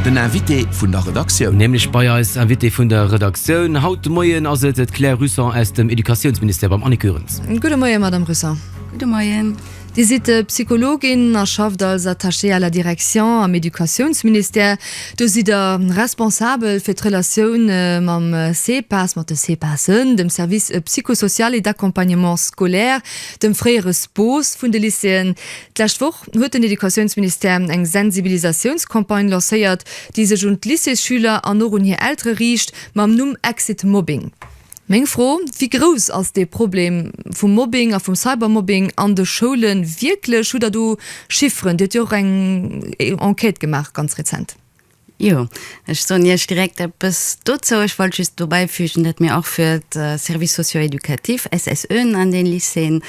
Den Invité vun der Redaktioun. Nämlech bei eis Invitée vun der Redaktioun. Haut de Moien ass et d'Claire Russon aus dem Educatiounsministère beim Annick Goerens. Gudde Moien, Madame Russon. Gudde Moien. Dir sidd Psychologin a schafft als Attachée à la direction am Educatiounsministère. Do sidd Der responsabel fir d'Relatioun mam CPAS, mat de CPASen, dem Service psychosocial et d'accompagnement scolaire, dem fréiere SPOS vun de Lycéeën. D'lescht Woch huet den Educatiounsministère eng Sensibilisatiounscampagne lancéiert, déi sech un d'Lycéesschüler an och un hir Eltere riicht, mam Numm Exit Mobbing. Meng Fro, Wéi grouss ass dee Problem vum Mobbing a vum Cybermobbing an de Schoule wierklech? Hutt Der do Chiffren? Dir huet jo och eng Enquête gemaach ganz rezent. Jo, ech soen Iech direkt eppes dozou. Ech wollt just do bäifügen, datt mir och fir d'Services socio-éducatifs, SSEen, an de Lycéeën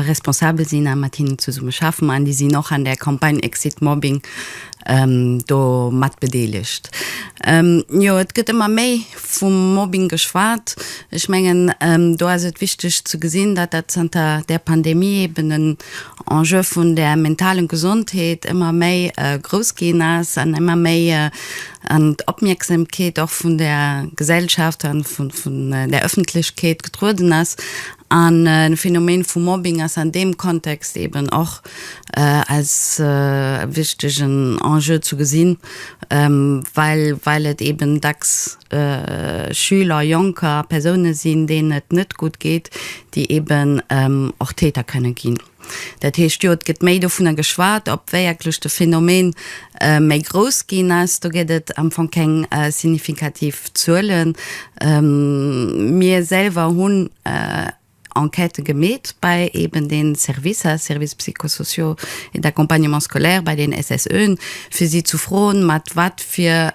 responsabel sinn a mat hinnen zesumme schaffen. An déi sinn och an där Campagne Exit Mobbing do mat bedeelegt. Jo, et gëtt ëmmer méi. vum Mobbing geschwat. Ech mengen, do ass et wichteg ze gesinn, datt dat zanter der Pandemie eben en Enjeu vun der mentalen Gesondheet ëmmer méi grouss ginn ass an ëmmer méi an d'Opmierksamkeet och vun der Gesellschaft an vun der Ëffentlechkeet getrueden ass. An de Phänomen vum Mobbing ass an deem Kontext eben och als wichtegen Enjeu zu gesinn, well et eeben dacks Schüler, Jonker, Persounen sinn, deenen et net gutt geet, déi eeben och Täter kënnen ginn. Dat heescht, jo, et gëtt méi dovunner geschwat, ob wierklech de Phänomen méi grouss ginn ass. Do gëtt et am Fong keng signifikativ Zuelen. Mir selwer hunn. Enquêten gemeet bei eben den Services, Services psychosociaux et d'accompagnement scolaire, bei den SSÖen, fir si zu froen, mat wat fir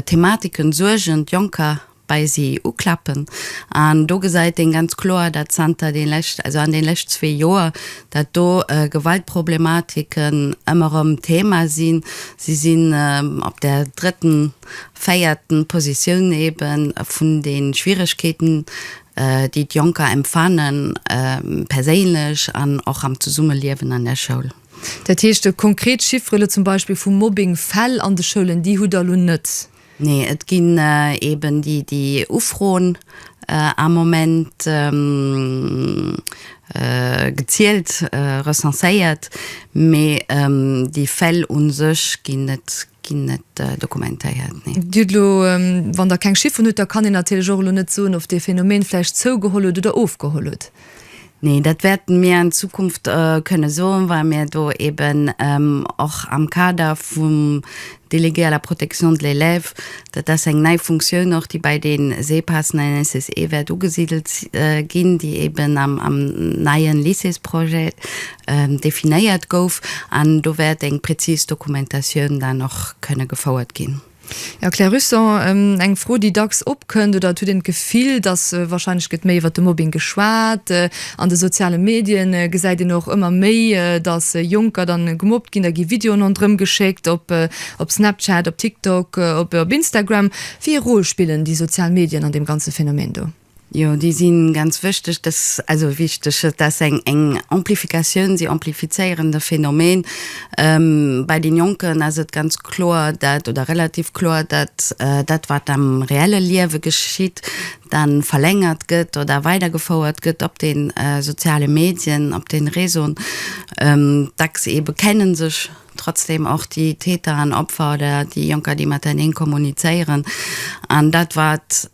Thematiken, Suergen d'Jonker bei si uklappen. An do gesäit een ganz kloer, dat zanter den lescht, also an den lescht zwee Joer, dat do Gewaltproblematiken ëmmer erëm Thema sinn. Si sinn op der drëtten véierten Positioun ebe vun de Schwieregkeeten, déi d'Jonker empfanne perséinlech an och am Zesummeliewen an der Schoul. Dat heescht, konkret Chiffere elo zum Beispill vu Mobbing-Fäll an de Schoulen, déi hutt Der elo net? Nee, et ginn eben déi Ufroen am Moment gezielt, recenséiert, mee déi Fäll u sech ginn net ginn net dokumentéiert, nee. Dir hutt elo, wann Der keng Chifferen hutt, da kann een natierlech och elo net soen, ob dee Phänomen vläicht zougeholl huet oder ofgeholl huet. Nee, dat wäerten mir an Zukunft kënne soen, well mir do eeben och am Kader vum Délégué à la protection de l'élève, dat ass eng nei Funktioun och, déi bei de Sepassen an den SSE wäert ugesidelt ginn, déi eeben am neien Lycéesprojet definéiert gouf an do wäert eng präzis Dokumentatioun dann och kënne gefouert ginn. Ja, Claire Husson, eng Fro déi dacks opkënnt, oder et huet een d'Gefill, datt warscheinlech gëtt méi iwwert de Mobbing geschwat an de soziale Medien, gesäit een och ëmmer méi, datt Jonker dann gemobbt ginn, da gi Videoen ronderëm geschéckt op Snapchat, op TikTok, op Instagram. Wéi ee Rôle spillen déi sozial Medien an deem ganze Phänomen do? Jo, déi si ganz wéchteg. Dass, also wichteg, et ass eng, eng Amplifikatioun, si amplifizéieren de Phänomen. Bei de Jonken ass et ganz kloer dat, oder relativ kloer dat, dat wat am reelle Liewe geschitt, dann verlängert gëtt oder weidergefouert gëtt op de soziale Medien, op de Réseauen. Dacks eebe kenne sech. Trotzdem och déi Täter an Opfer oder déi Jonker, déi mateneen kommunizéieren. An dat, wat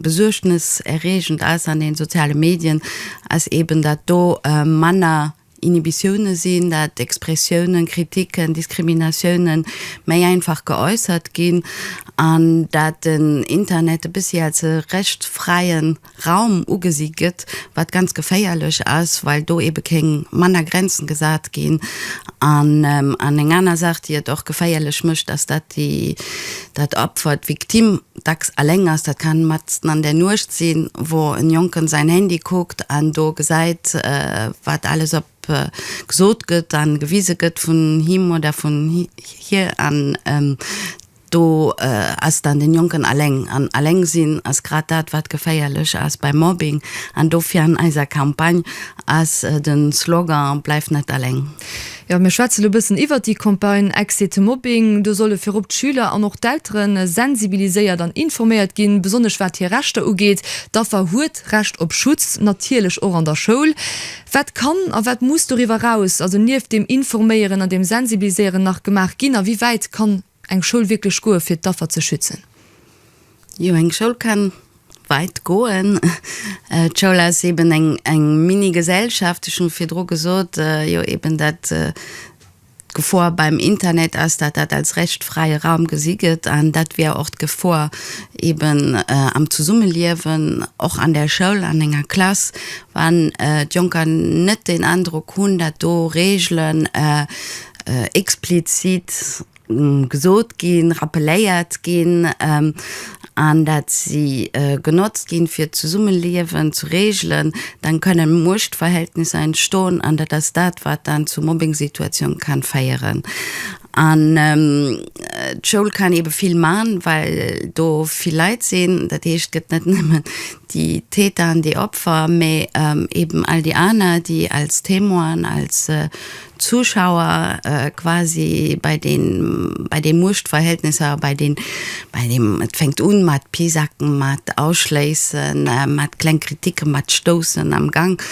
besuergneserreegend ass an den sozialen Medien, ass eben, dat do manner Inhibitiounen sinn, dat Expressiounen, Kritiken, Diskriminatiounen méi einfach geäussert ginn an dat den Internet e bëssi als e rechtfräien, Raum ugesi gëtt, wat ganz geféierlech ass, well do eebe kéng manner Grenzen gesat ginn. An eng aner Saach, déi et och geféierlech mécht, ass, dat déi, dat Opfer, d'Victime, dacks alléng ass. Dat kann matzen an der Nuecht sinn, wou en Jonken säin Handy kuckt an do gesäit, wat alles op gesot gëtt an gewise gëtt vun him oder vun hir an. Do ass dann den Jonken aleng, an aleng sinn ass grad dat wat geféierlech ass beim Mobbing, an dofir an eiser Campagne ass den Slogan Bleif net aleng. Jo, mir schwätzen elo e bëssen iwwert déi Campagne Exit to Mobbing. Do solle virop d'Schüler an och d'Eltere sensibiliséiert an informéiert ginn, besonnesch wat hir Rechter ugeet. D'Affer huet Recht op Schutz, natierlech och an der Schoul. Wat kann a wat muss doriwwer eraus, also nieft deem Informéieren an deem Sensibiliséieren, nach gemaach ginn a wéi wäit kann eng Schoul wierklech goe fir d'Affer ze schützen? Jo, eng Schoul kann weit goen. D'Schoul ass eben eng Mini-Gesellschaft, ech hu virdru gesot, jo eben dat, D'Gefor beim Internet ass, dat dat als rechtfräie Raum gesi gëtt, an dat wier och d'Gefor eben am Zesummeliewen, och an der Schoul, an enger Klass, wann d'Jonker net den Androck hunn, dat do Regelen explizit gesot ginn, rappeléiert ginn. an dat si genotzt ginn, fir d'Zesummeliewen ze reegelen, dann kënnen Muechtverhältnisser entstoen an dat ass dat, wat dann zu Mobbingsituatioun kann féieren. An d'Schoul kann eebe vill man, well do vill Leit sinn. Dat heescht, et gëtt net nëmmen déi Täter an déi Opfer, mee eeben all déi aner, déi als Témoinen, als Zuschauer quasi bei den bei den Muechtverhältnisser, bei den bei dem et fänkt un mat Pisacken, mat Ausschléissen, mat kleng Kritiken, mat Stoussen am Gang,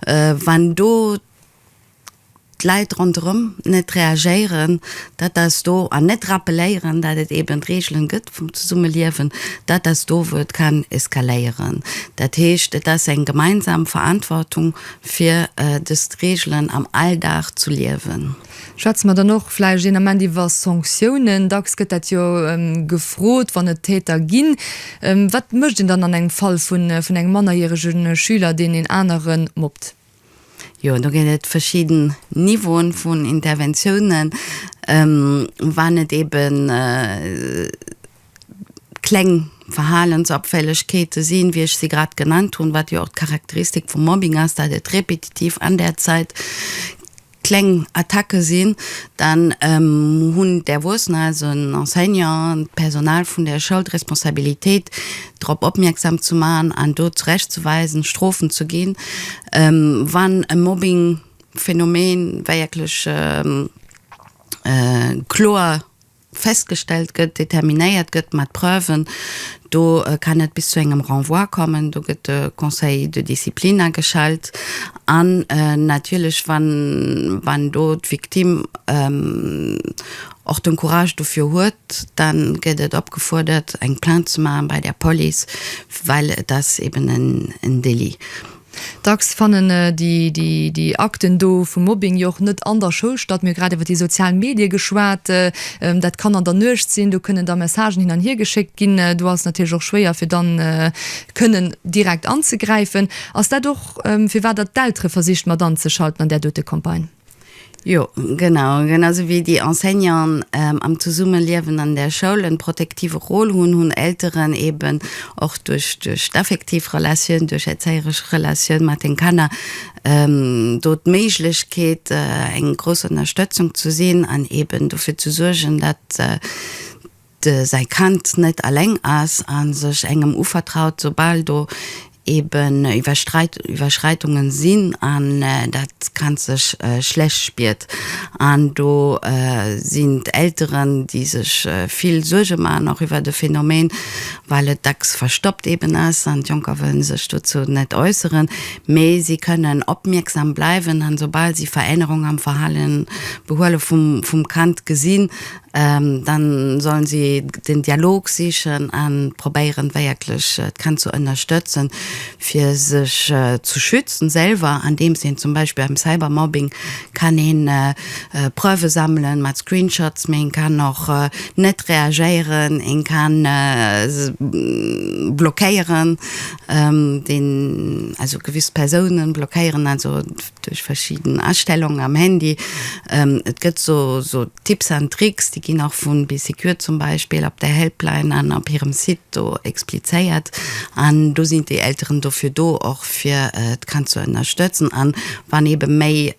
wann do d'Leit ronderëm net reagéieren, dat ass do an net rappeléieren, dat et eben Regeln gëtt vum Zesummeliewen, dat ass do wou et kann eskaléieren. Dat heescht et ass eng gemeinsam Verantwortung fir dës Reegelen am Alldag zu liewen. Schwätze mer dann och vläicht een Ament iwwer Sanktiounen. Dacks gëtt dat jo gefrot, wann et Täter ginn. Wat mécht een dann an engem Fall vun engem mannerjärege Schüler, deen een anere mobbt? Jo, do ginn et verschidden Niveaue vun Interventiounen. Wann et eeben. kleng Verhalensabfällegkeete sinn, wéi ech se grad genannt hunn, wat jo och d'Charakteristik vum Mobbing ass, dat et repetitiv an där Zäit kleng Attacke sinn, dann hunn d'Erwuessener, also en Enseignant, d'Personal vun der Schoul, d'Responsabilitéit, drop opmierksam ze maachen an do zurechtzeweisen, Strofen ze ginn, wann e Mobbingphänomen wierklech kloer. festgestellt gëtt, determinéiert gëtt mat Preuven, do kann et bis zu engem Renvoi kommen, do gëtt de Conseil de discipline ageschalt an natierlech, wann, wann do d'Victime och den Courage dofir huet, da gëtt et opgefuerdert, eng Plainte ze maachen bei der Police, well et ass eeben en Délit. Dacks fannen déi Akten do vum Mobbing jo och net an der Schoul statt. Mir hu grad iwwer déi sozial Medie geschwat. Dat kann an der Nuecht sinn, do kënnen da Messagen hin an hier geschéckt ginn. Do ass et natierlech och schwéier, fir dann kënnen direkt anzegräifen. Ass dat och, firwat Der d'Eltere versicht mat anzeschalten an där dote Campagne? Jo, genau. Genau sou wéi déi Enseignanten am Zesummeliewen an der Schoul en protektive Rôle hunn, hunn Elteren eben och duerch d'effektiv Relatioun, duerch erzéieresch Relatioun mat den Kanner do d'Méiglechkeet eng grouss Ënnerstëtzung ze sinn an eben dofir ze suergen, dat de säi Kand net aleng ass a sech engem uvertraut, soubal do eben Iwwerschreitungen sinn an dat Kand sech schlecht spiert. An do sinn d'Elteren, déi sech vill Suerge maachen och iwwert e Phänomen, well et dacks verstoppt eben ass an d'Jonker wëllen sech dozou net äusseren, mee si kënnen opmierksam bleiwen an soubal si Verännerungen am Verhale behuele vum Kand gesinn, Dann sollen si den Dialog sichen an probéieren wierklech d'Kand ze ënnerstëtzen fir sech ze schützen selwer an deems een zum Beispill beim Cybermobbing kann een Preuve sammelen mat Screenshots, mee een kann och net reagéieren, een kann blockéieren, also gewiss Persounen blockéieren. duerch verschidden Astellungen am Handy, et gëtt esou Tipps an Tricks, déi ginn och vun BeeSecure zum Beispill op der Helpline an op hirem Site do explizéiert an do sinn déi Elteren dofir do och fir d'Kand ze ënnerstëtzen an wann ebe méi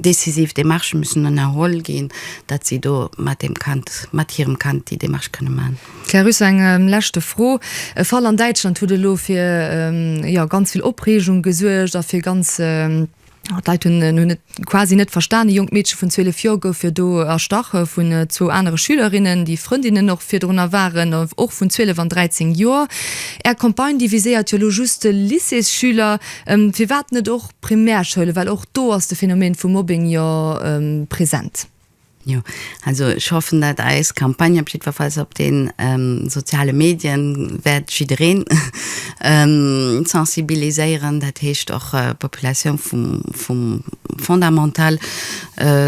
decisiv Demarchë müssen ënnerholl ginn, datt si do mat deem Kand, mat hirem Kand déi Demarche kënne man. Här Rüsse, eng leschte Fro. E Fall an Däitschland huet elo fir, jo, ganz vill Opreegung gesuergt a fir ganz, jo, d'Leit hunn hunn et quasi net verstan, e jonkt Meedche vun 12 Joer gouf jo do erstach vun zwou anere Schülerinnen, déi Frëndinnen och virdrunner waren, och vun 12 an 13 Joer. Är Campagne, déi viséiert jo elo just d'Lycéesschüler. Firwat net och d'Primärschoulen, well och do ass de Phänomen vum Mobbing jo present? Jo, also ech hoffen, dat eis Campagne op jiddwerfalls op de soziale Medien wäert jiddereen sensibiliséieren, dat heescht och d'Populatioun vum Fondamental.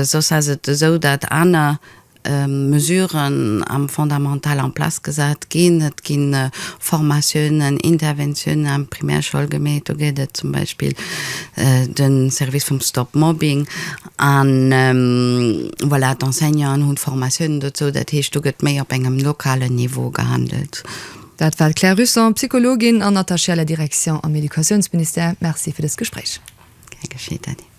Soss ass et esou, dat aner Mesuren am Fondamental en place gesat ginn. Et gi Formatiounen, Interventiounen an d'Primärschoul gemeet. Do gëtt et zum Beispill de Service vum Stop Mobbing. An voilà, d'Enseignanten hunn d'Formatiounen dozou, dat heescht, do gëtt méi op engem lokalen Niveau gehandelt. Dat war d'Claire Russon, Psychologin an Attachée à la direction am Educatiounsministère. Merci fir dëst Gespréich. Gär geschéet, Dany.